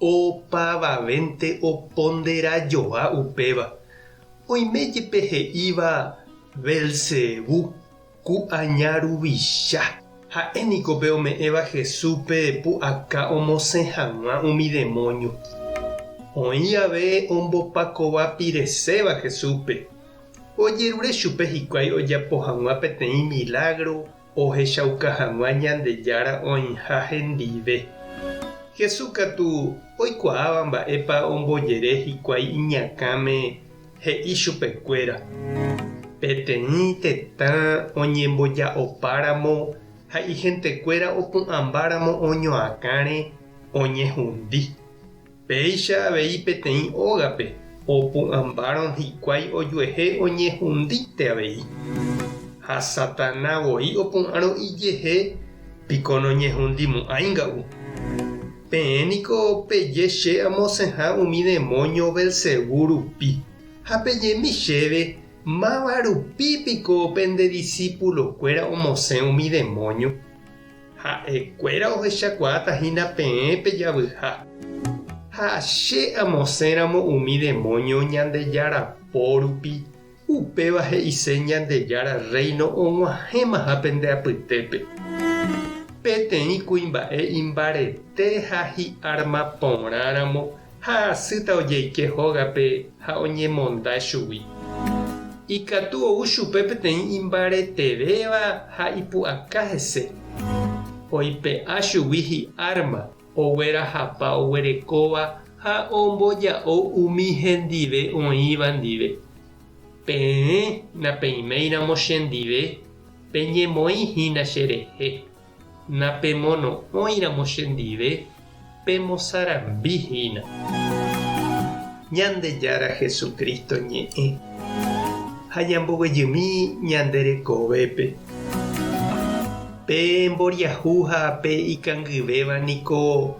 Opavavénte oponderajoa upéva, oime jepe he'íva Belzebú, ku'aña ruvicha. Ha'e niko pe ome'ẽva Jesúspe pu'aka omosẽ hag̃ua umi demónio. Oĩ jave ombopakova pireséva Jesúspe, ojerure chupe hikuái ojapo hag̃ua peteĩ milágro Ohechauka hag̃ua Ñandejára oĩha hendive. Jesús katu oikuaáva mba'épa ombojere hikuái iñakãme he'i chupekuéra. Peteĩ tetã oñemboja'opáramo ha ihentekuéra opu'ãmbáramo oñoakãre, oñehundi. Péicha avei peteĩ ógape opu'ãmbárõ hikuái ojuehe oñehundíte avei. Ha Satana voi opu'ãrõ ijehe piko noñehundimu'ãinga'u. Peẽ niko peje che amosẽha umi demóño Belcebú rupi, ha pejemi chéve máva rupi piko pende disípulokuéra omosẽ umi demóño. Ha'ekuéra ohechakuaáta hína peẽ pe javyha. Ha che amosẽramo umi demónio Ñandejára pórupi, upéva he'ise Ñandejára Rréino og̃uahẽmaha pende apytépe. Peteĩ kuimba'e imbarete ha hi'arma porãramo ha hasýta ojeike hógape ha oñemonda chugui. Ikatu ou chupe peteĩ imbaretevéva ha ipu'aka hese. Oipe'a chugui hi'árma oguerahapa oguerekóva ha omboja'o umi hendive oĩva ndive. Peẽ napeiméiramo chendive, peñemoĩ hína cherehe. Napemono'õiramo chendive, pemosarambi hína. Ñandejára Jesucristo ñe'ẽ ha ñamboguejymi ñande rekovépe. Pe mboriahu ha pe ikangyvéva niko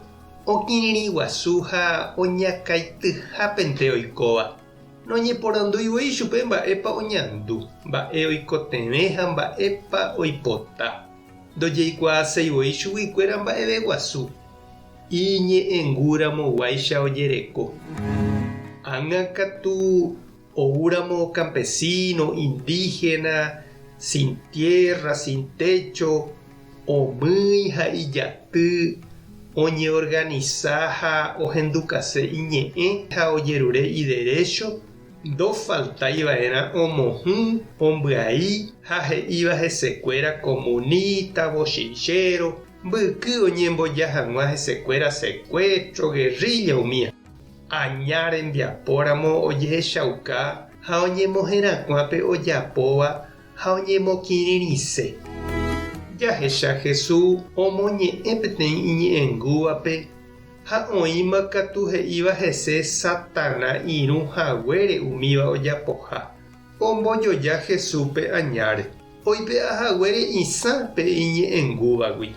okirirĩ guasu ha oñakãityhápente oikóva, noñeporandúi voi chupe mba'épa oñandu, mba'e oikotevẽ ha mba'épa oipota. Ndojeikuaaséi voi chuguikuéra mba'eve guasu. Iñe'ẽngúramoguáicha ojereko. Ág̃a katu oúramo kampesíno, indíhena, sin tiérra, sin técho, omýi ha ijaty oñeorganisa ha ohendukase iñe'ẽ ha ojerure iderécho, Ndofaltaiva'erã omohũ, ombyai ha he'íva hesekuéra komunita, vochinchero, mbyky oñemboja hag̃ua hesekuéra sekuétro, gerrílla umía. Aña rembiapóramo ojehechauka ha oñemoherakuã pe ojapóva ha oñemokirirĩse. Jahecha Jesús omoñe'ẽ peteĩ iñe'ẽngúvape. Ha oĩma katu he'íva hese Satana irũ haguére umíva ojapoha, ombojoja Jesúspe añáre, oipe'a haguére isã pe iñe'ẽngúvagui.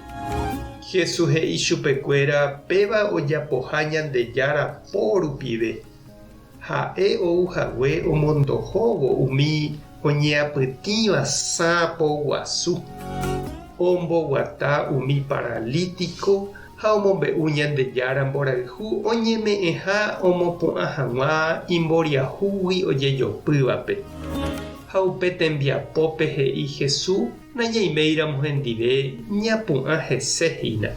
Jesús he'i chupekuéra péva ojapoha Ñandejára po rupive, Ha'e ou hague omondohóvo umi oñeapytĩva sãpo guasu, omboguata umi paralítiko ha omombe'u Ñandejára mborayhu oñeme'ẽha omopu'ã hag̃ua imboriahúgui ojejopývape. Ha upe tembiapópe he'i Hesu nañaiméiramo hendive ñapu'ã hese hína.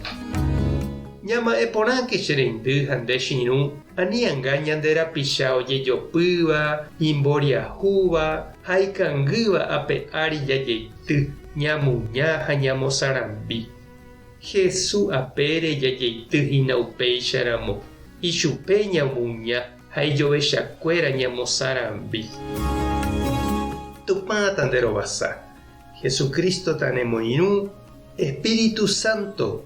Ñama'ẽ porãke che reindy ha nde che irũ Anianga ñande rapicha ojejopýva, imboriahúva ha ikangýva ape ári jajeity, ñamuña ha ñamosarambi. Hesu apére jajeity hína upéicha ramo, ichupe ñamuña ha ijovechakuéra ñamosarambi. Tupã tanderovasa, Jesucristo tanemoirũ, Espíritu Santo